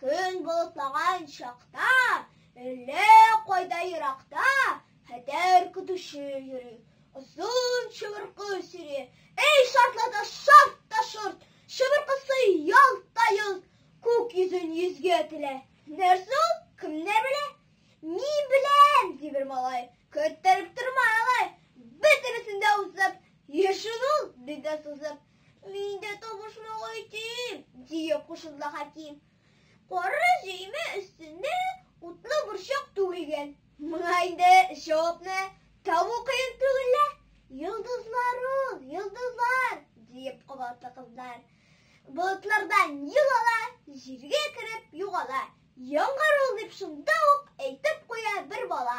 Көн болытлаган чакта, әллә кайда еракта, хәтәр көтүче йөри. Озын чыбыркы сөри. Эй, шартлата, шарт та шорт! Чыбыркысы ялт та йолт, күк йөзен йөзгә телә. Нәрсә ул? Кемнәр белә? Мин беләм, ди бер малай. Көттереп торма алай. Бөтенесен дә узып, йөршен ул, ди дә сузып. Мин дә табышмага итим, дия кушылды Хәким. Кара җөймә өстендә утлы борчак түгелгән. Моңа инде җавапны табу кыен түгел лә. Йолдызлар ул, йолдызлар, диеп кабатты кызлар. Болытлардан юл ала, җиргә кереп югала. Яңгыр ул дип шунда ук әйтеп куя бер бала.